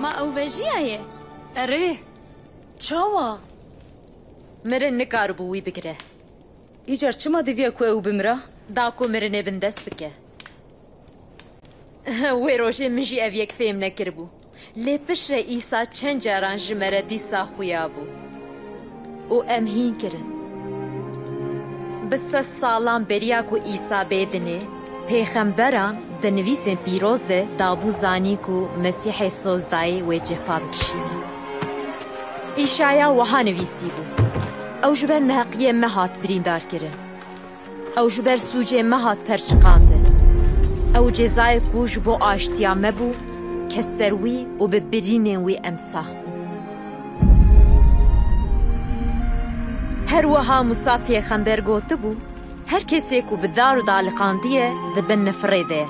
Ma ew vejîyaye. Erê, çawa? Mirin nikaribû wî bigire. Îcar çima diviya ku ew bimira? Da ku mirinê bin dest bike. Wê rojê min jî ev yek fêm nekiribû. Lê piştre Îsa çend caran ji me re dîsa xuya bû. Û em hîn kirin. Bi sed salan beriya ku Îsa bê dinê, pêxemberan di nivîsên pîroz de dabû zanîn ku Mesîhê Sozdayê wê cefa bikişîne. Îşaya wiha nivîsîbû, Ew ji ber neheqiyê me hat birîndarkirin. Ew ji ber sûcê me hat perçiqandin. Ew cezayê ku ji bo aştiya me bû ket ser wî û bi birînên wî em sax bûn. Her wiha Mûsa pêxember gotibû, Her kesê ku bi dar û daliqandiye di bin nifirê de ye.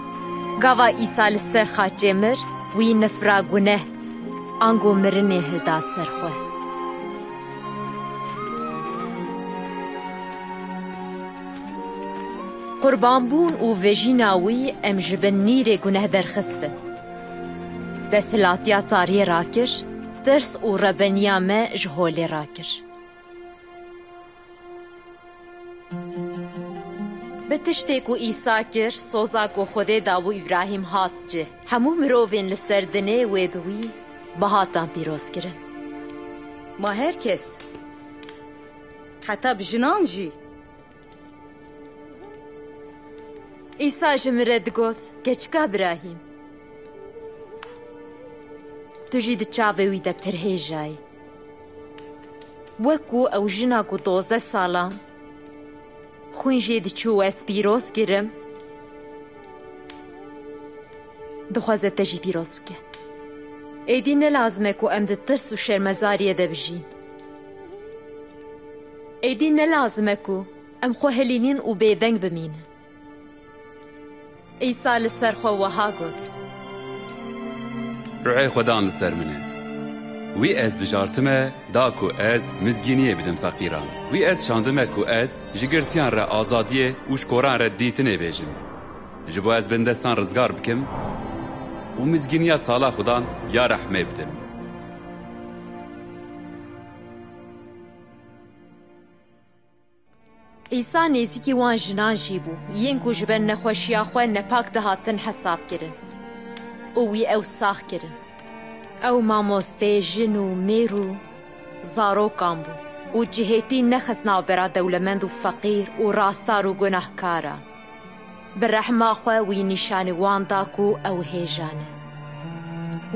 Gava Îsa li ser xaçê mir, wî nifira guneh, ango mirinê hilda ser xwe. Qurbanbûn û vejîna wî em ji bin nîrê guneh derxistin. Desthilatiya tariyê rakir, tirs û rebeniya me ji holê rakir. Bi tiştê ku Îsa kir, soza ku Xwedê dabû Îbrahîm hat cih. Hemû mirovên li ser dinê wê bi wî bi hatan pîroz kirin. Ma her kes, heta bi jinan jî. Îsa ji min re digot, Keçika Birahîm! Tu jî di çavê wî de pirhêjayî. Wek ku ew jina ku dozdeh salan xwîn jê diçû û ez pîroz kirim, dixwaze te jî pîroz bike. Êdî ne lazim e ku em di tirs û şermezariyê de bijîn. Êdî ne lazim e ku em xwe hilînin û bêdeng bimînin. Îsa li ser xwe wiha got. Ruhê xwe dan li ser min e. Wî ez bijartime da ku ez mizgîniyê bidim feqîran. Wî ez şandime ku ez ji girtiyan re azadiyê û ji koran re dîtinê bêjim. Ji bo ez bindestan rizgar bikim û mizgîniya sala xwe dan ya rehmê bidim. Îsa nêzîkî wan jinan jî bû, yên ku ji ber nexweşiya xwe nepak dihatin hesabkirin û wî ew sax kirin. Ew mamoste jin û mêr û zarokan bû û cihêtî nexist navbera dewlemend û feqîr û rastar û gunahkaran. Bi rehma xwe wî nîşanî wan da ku ew hêja ne.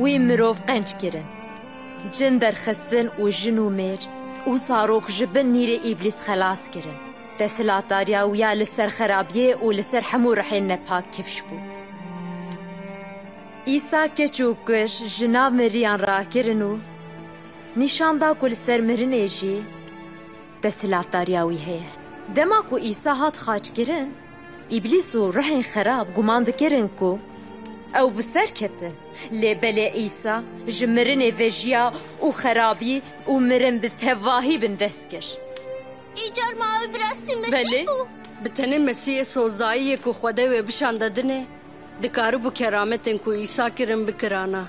Wî mirov qenc kirin, cin derxistin û jin û mêr û zarok ji bin nîrê îblîs xelas kirin. Desthilatdariya wî ya li ser xerabiyê û li ser hemû rihên nepak kifş bû. Îsa keç û kur ji nav miriyan rakirin û nîşan da ku li ser mirinê jî, Desthilatdariya wî heye. Dema ku Îsa hat xaçkirin, Îblîs û ruhên xerab guman dikirin ku ew bi ser ketin. Lê belê Îsa ji mirinê vejiya û xerabî û mirin bi tevahî bin dest kir. Îcar ma ew bi rastî Mesîh bû? Belê, bi tenê Mesîhê sozayiyê ku Xwedê wê bişande din e, dikaribû kerametên ku Îsa kirin bikirana.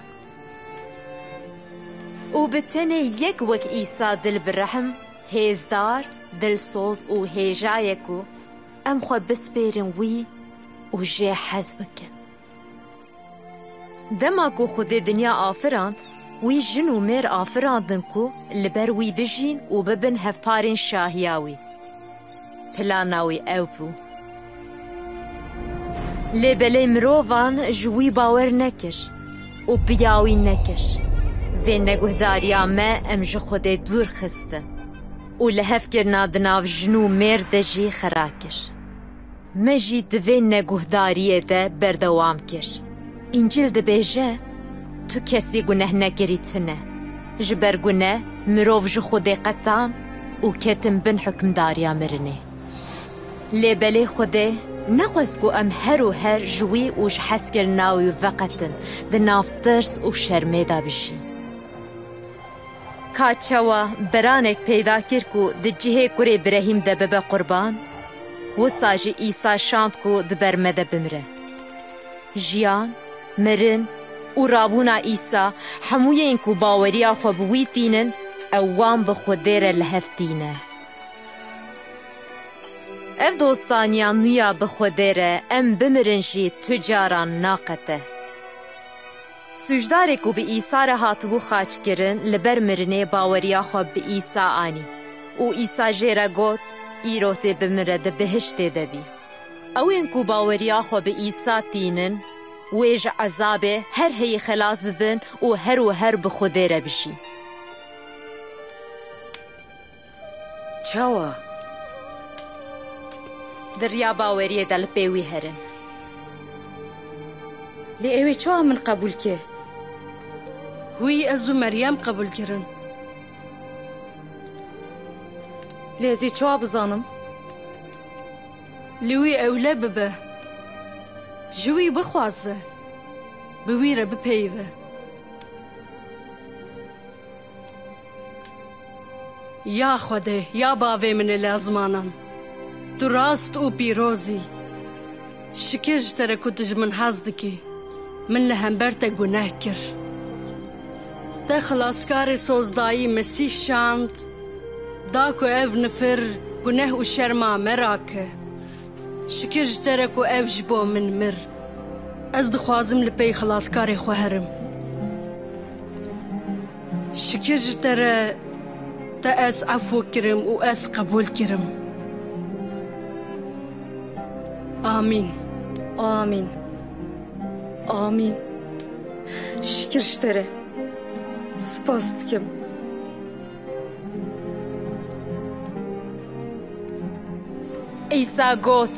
û bi tenê yek wek Îsa dil bi rehm, hêzdar, dilsoz û hêja ye ku em xwe bispêrin wî û jê hez bikin. Dema ku Xwedê dinya afirand, wî jin û mêr afirandin ku li ber wî bijîn û bibin hevparên şahiya wî. Plana wî ew bû. Lê belê mirovan ji wî bawer nekir û piya wî nekir. Vê neguhdariya me em ji Xwedê dûr xistin û lihevkirina di nav jin û mêrd de jî xera kir. Me jî di vê neguhdariyê de berdewam kir, Încîl dibêje, Tu kesî guneh nekirî tune. Ji ber guneh mirov ji Xwedê qetan û ketin bin hukmdariya mirinê. Lê belê Xwedê nexwest ku em her û her ji wî û ji hezkirina wî veqetin, di nav tirs û şermê de bijîn. Ka çawa biranek peyda kir ku di cihê kurê birehîm de bibe qurban, wisa jî Îsa şand ku di ber me de bimire. Jiyan, mirin û rabûna Îsa hemûyên ku baweriya xwe bi wî tînin ew wan bi Xwedê re li hev tîne. Ev dostaniya nû ya bi Xwedê re em bimirin jî tu caran naqete. Sûcdarê ku bi Îsa re hatibû xaçkirin li ber mirinê baweriya xwe bi Îsa anî û Îsa jê re got, Îro tê bimire di bihiştê de bî. Ewên ku baweriya xwe bi Îsa tînin wê ji ezabê her heyî xelas bibin û her û her bi Xwedê re bijîn. Çawa? Di riya baweriyê de li pê wî herin. Lê ew ê çawa min qebûl ke? Wî ez û Meryem qebûl kirin. Lê ez ê çawa bizanim? Li wî ewle bibe. Ji wî bixwaze. Bi wî re bipeyive. Ya Xwedê, ya bavê min ê lezmanan, tu rast û pîroz î. Şikê ji te re ku tu ji min hez dikî. Min li hember te guneh kir. Te Xilaskarê Sozdayî Mesîh şand, da ku ev nifir, guneh û şerma me rake. Şikir ji te re ku ew ji bo min mir. Ez dixwazim li pey Xilaskarê xwe herim. Şikir ji te re te ez efû kirim û ez qebûl kirim. Amîn. Amîn. Amîn. Şikir ji te re. Spas dikim. Îsa got,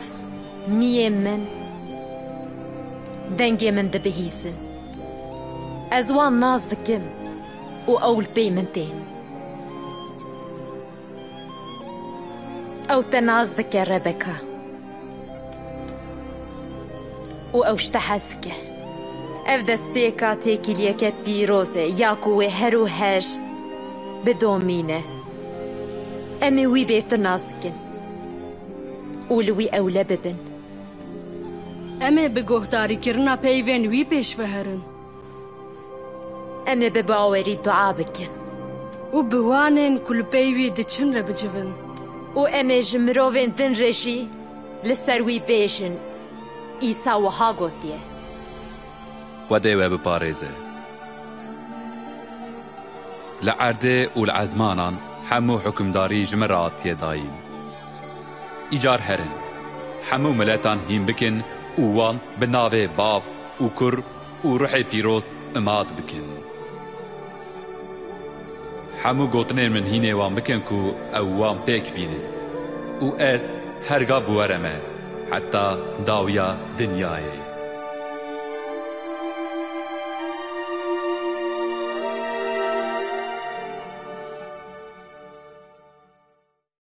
Niyê min, dengê min dibihîzin. Ez wan nas dikim û ew li pey min tên. Ew te nas dike Rebeka. û ew ji te hez dike. Ev destpêka têkiliyeke pîroz e ya ku wê her û her bidomîne. Em ê wî bê tu nas bikin û li wî ewle bibin. Em ê bi guhdarîkirina peyvên wî pêş veherin. Em ê bi bawerî dua bikin. Û bi wanên ku li pey wî diçin re bicivin. Û em ê ji mirovên din re jî li ser wî bêjin, Îsa wiha gotiye. Xwe dê we biparêze. Li erdê û li ezmanan hemû hukimdarî ji min re hatiye dayîn. Îcar herin, hemû miletan hîn bikin û wan bi navê bav û kur Û ruhê pîroz imat bikin. Hemû gotinên min hînê wan bikin ku ew wan pêk bînin. Û ez her gav bi we re me heta dawiya dinyayê.